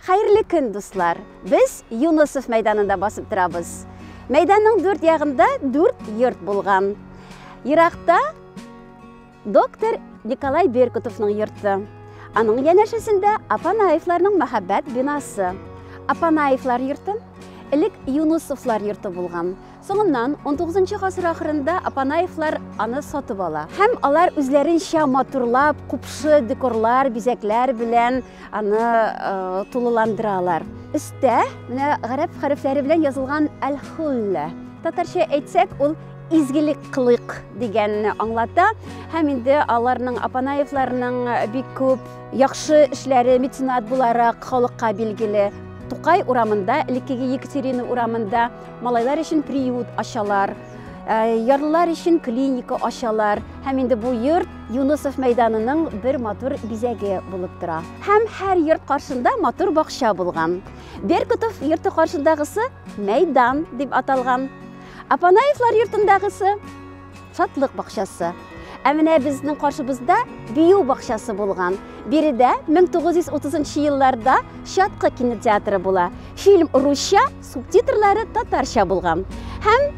Хәерле көн, дуслар! Без Юнысов мәйданында басып торабыз. Мәйданның дүрт ягында дүрт йорт булган. Еракта доктор Николай Беркутовның йорты. Аның янәшәсендә Апанаевларның мәхәббәт бинасы. Апанаевлар йортын элек Юнусовлар йорты булган. Соңыннан, унтугызынчы гасыр ахырында Апанаевлар аны сатып ала һәм алар үзләренчә матурлап, купшы декорлар, бизәкләр белән аны тулыландыралар. Өстә менә гарәп хәрефләре белән язылган Әл-Хуллә. Татарча әйтсәк, ул изгелек кылыйк дигәнне аңлата һәм инде аларның апанаевларның бик күп яхшы эшләре меценат буларак халыкка билгеле тукай урамында элеккеге екатерина урамында Малайлар өчен приют ачалар, ә, ярлылар өчен клиника ачалар. Һәм инде бу йорт Юнусов мәйданының бер матур бизәге булып тора. Һәм һәр йорт каршында матур бакча булган. Беркутов йорты каршындагысы мәйдан дип аталган. Апанаевлар йортындагысы Шатлык бакчасы. Ә менә безнең каршыбызда бию бакчасы булган. Биредә 1930 елларда Чаткы кинотеатры була. Фильм русча, субтитрлары татарча булган. Һәм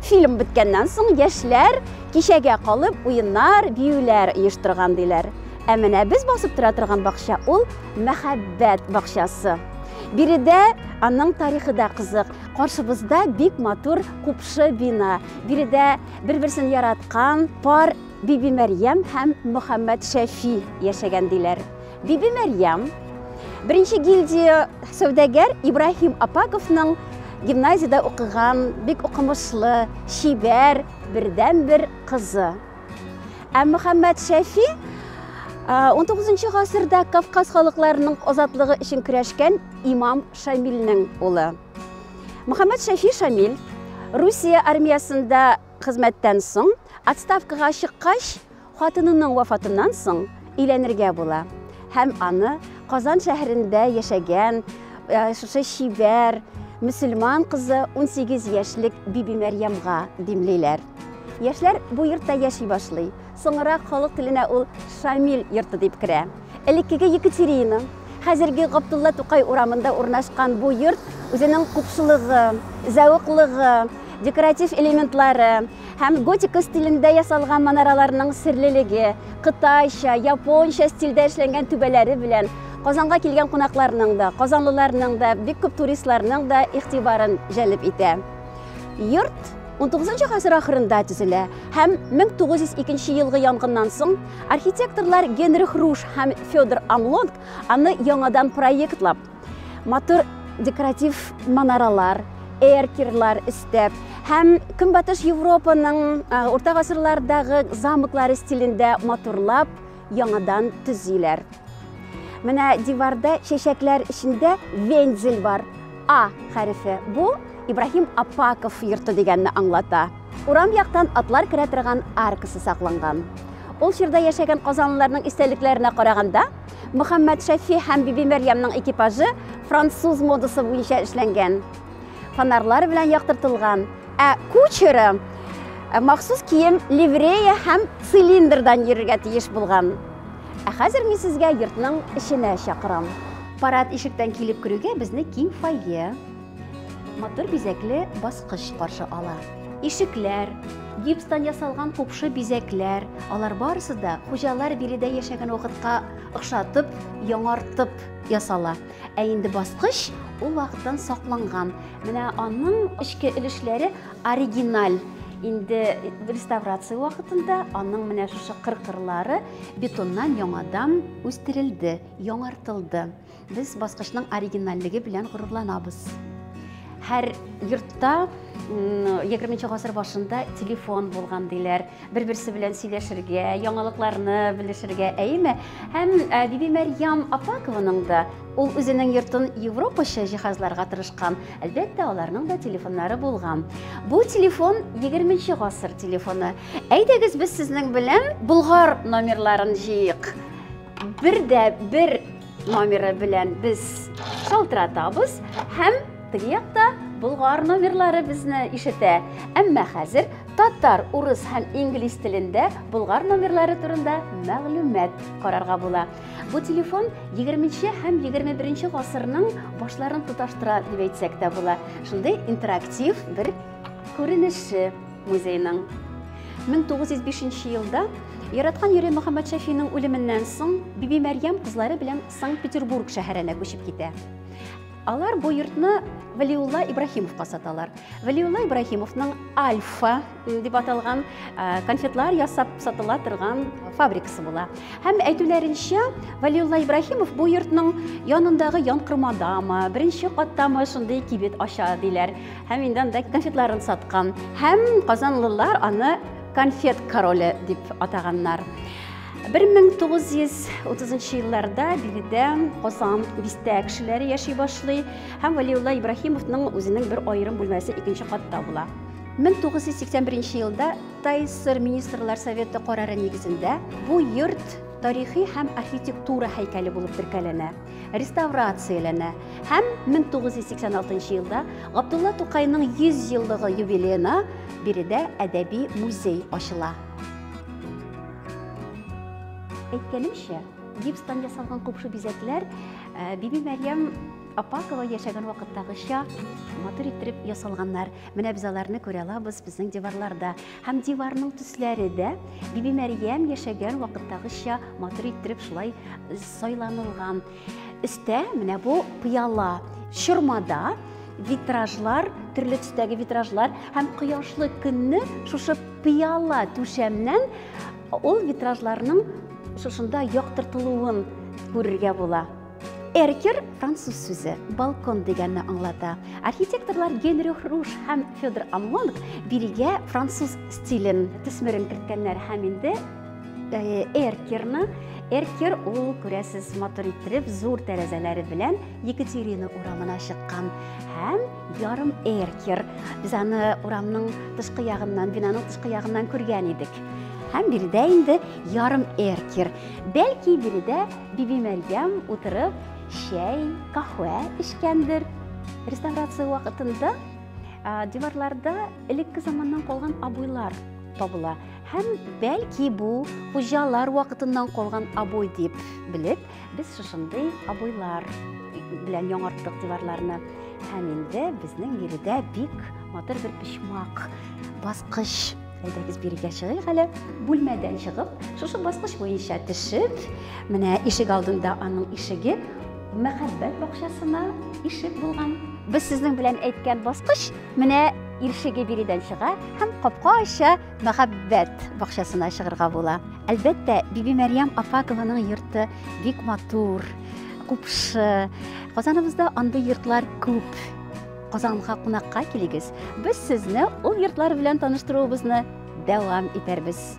фильм беткәннән соң яшьләр кичәгә калып уеннар, биюләр оештырган диләр. Ә менә без басып тора торган бакча ул мәхәббәт бакчасы. Биредә аның тарихы да кызык. Каршыбызда бик матур купшы бина. Биредә бер-берсен яраткан пар Биби Мәрьям һәм Мөхәммәд Шәфи яшәгән диләр. Биби Мәрьям беренче гильдия сәүдәгәр Ибраһим Апаковның гимназиядә укыган, бик укымышлы, чибәр, бердәнбер кызы. Ә Мөхәммәд Шәфи 19 гасырда Кавказ халыкларының азатлыгы өчен көрәшкән имам Шамилнең улы. Мөхәммәд Шәфи Шамил Русия армиясендә хезмәттән соң, отставкага чыккач, хатынының вафатыннан соң өйләнергә була һәм аны Казан шәһәрендә яшәгән шушы чибәр мөселман кызы 18 яшьлек Биби Мәрьямга димлиләр. Яшьләр бу йортта яши башлый. Соңрак халык теленә ул Шамил йорты дип керә. Элеккеге Екатерина, хәзерге Габдулла Тукай урамында урнашкан бу йорт үзенең купшылыгы, зәвыклыгы, декоратив элементлары һәм готика стилендә ясалган манараларның серлелеге, кытайча, японча стильдә эшләнгән түбәләре белән Казанга килгән кунакларның да, казанлыларның да, бик күп туристларның да игътибарын җәлеп итә. Йорт 19 гасыр ахырында төзелә һәм 1902 елгы янгыннан соң архитекторлар Генрих Руш һәм Федор Амлонг аны яңадан проектлап, матур декоратив манаралар, эркерлар өстәп һәм Көнбатыш Европаның урта гасырлардагы замоклары стилендә матурлап яңадан төзиләр. Менә диварда чәчәкләр эчендә вензель бар. А хәрефе. Бу Ибраһим Апаков йорты дигәнне аңлата. Урам яктан атлар керә торган аркасы сакланган. Ул чорда яшәгән казанлыларның истәлекләренә караганда, Мөхәммәд Шәфи һәм Биби Мәрьямның экипажы француз модасы буенча эшләнгән. Фонарлар белән яктыртылган Ә кучеры э, махсус кием ливрея һәм цилиндрдан йөрергә тиеш булган. Ә хәзер мин сезгә йортның эченә чакырам. Парад ишектән килеп керүгә безне киң фойе, матур бизәкле баскыч каршы ала. Ишекләр, гипстан ясалган купшы бизәкләр, алар барысы да хуҗалар биредә яшәгән вакытка охшатып, яңартып ясала. Ә инде баскыч ул вакыттан сакланган Менә аның эчке өлешләре оригиналь инде реставрация вакытында аның менә шушы кыркырлары бетоннан яңадан үстерелде яңартылды без баскычның оригинальлеге белән горурланабыз һәр йортта егерменче гасыр башында телефон булган диләр бер-берсе белән сөйләшергә, яңалыкларны белешергә, әйеме? Һәм э, Биби Мәрьям Апакованың да ул үзенең йортын европача җиһазларга тырышкан. Әлбәттә, аларның да телефоннары булган. Бу телефон 20 гасыр телефоны. Әйдәгез без сезнең белән Болгар номерларын җыйык. бер дә бер номеры белән без шалтыратабыз һәм теге якта болгар номерлары безне ишетә. Әмма хәзер татар, урыс һәм инглиз телендә болгар номерлары турында мәгълүмат карарга була. Бу телефон 20-нче һәм 21-нче гасырның башларын тоташтыра дип әйтсәк тә була. Шундый интерактив бер күренеше. музейның. 1905 елда Яраткан йөре Мөхәммәд Шәфинең үлеменнән соң Биби Мәрьям кызлары белән Санкт-Петербург шәһәренә күчеп китә. Алар бу йортны Валиулла Ибраһимовка саталар. Валиулла Ибраһимовның Альфа дип аталган конфетлар ясап сатыла торган фабрикасы була. Һәм әйтүләренчә, Валиулла Ибраһимов бу йортның янындагы янкырмадамы, беренче каттамы шундый кибет ача диләр. Һәм инде анда конфетларын саткан. Һәм казанлылар аны конфет короле дип атаганнар. 1930 елларда биредә Казан бистә кешеләре яши башлый һәм Валиулла Ибраһимовның үзенең бер аерым бүлмәсе икенче катта була. 1981 елда Тайсыр министрлар советы карары нигезендә бу йорт тарихи һәм архитектура һәйкәле булып теркәләнә. реставрацияләнә һәм 1986 елда Габдулла Тукайның 100 еллыгы юбилеена биредә әдәби музей ачыла. Әйткәнемчә, гипстан ясалган купшы бизәкләр э, Биби Мәрьям Апакова яшәгән вакыттагыча матур иттереп ясалганнар. Менә без аларны күрә алабыз безнең диварларда. Һәм диварның төсләре дә Биби Мәрьям яшәгән вакыттагыча матур иттереп шулай э, сайланылган. Өстә менә бу пыяла чормада витражлар, төрле төстәге витражлар һәм кояшлы көнне шушы пыяла түшәмнән ул витражларның шушында яктыртылуын күрергә була. Эркер француз сүзе балкон дигәнне аңлата. Архитекторлар Генрих Руш һәм Федор Амлонг бирегә француз стилен төсмерен керткәннәр һәм инде э, эркерны эркер ул күрәсез матур иттереп зур тәрәзәләре белән Екатерина урамына чыккан һәм ярым эркер. Без аны урамның тышкы ягыннан, бинаның тышкы ягыннан күргән идек. Һәм биредә инде ярым эркер. Бәлки биредә Бибимәрьям утырып чәй, каһвә эчкәндер. Реставрация вакытында диварларда элекке заманнан калган абуйлар табыла һәм бәлки бу хуҗалар вакытыннан калган абуй дип белеп без шушындый абуйлар белән яңарттык диварларны һәм инде безнең биредә бик матур бер почмак баскыч Әйдәгез бирегә чыгыйк әле. Бүлмәдән чыгып, шушы баскыч буенча төшеп, менә ишек алдында аның ишеге мәхәббәт бакчасына ишек булган. Без сезнең белән әйткән баскыч менә ишеге биредән чыга һәм капка ача мәхәббәт бакчасына чыгырга була. Әлбәттә, Биби Мәрьям Афакованың йорты бик матур, купшы. Казаныбызда андый йортлар күп. Казанга кунакка килегез. Без сезне ул йортлар белән таныштыруыбызны дәвам итәрбез.